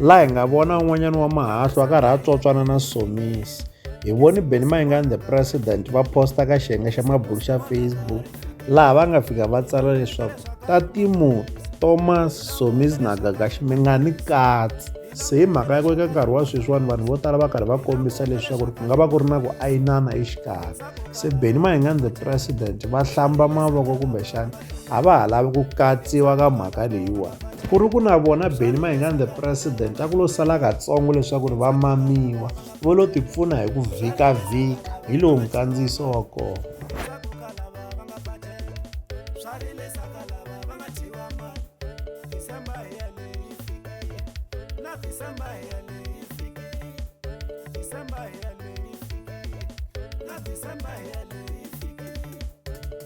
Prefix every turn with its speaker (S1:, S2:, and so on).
S1: laha hi nga vona un'wanyana wa mahahlu a karhi a tsotswana na somisi hi voni beni mayingani the president va posta ka xiyenge xa mabulu xa facebook laha va nga fika va tsala leswaku tatimu thomas somis na gagaxi mi nga ni katsi se hi mhaka ya ku eka nkarhi wa sweswiwani vanhu vo tala va karhi va kombisa leswaku ku nga va ku ri na ku ayinana exikarhi se beni mayingani the president va hlamba mavoko kumbexana a va ha lavi ku katsiwa ka mhaka leyiwani ku ri ku na vona beni mahingani the president a ku lo sala katsongo leswaku ri va mamiwa vo lo tipfuna hi ku vhikavhika hi lowu mukandziyiso wa kona
S2: December, yeah.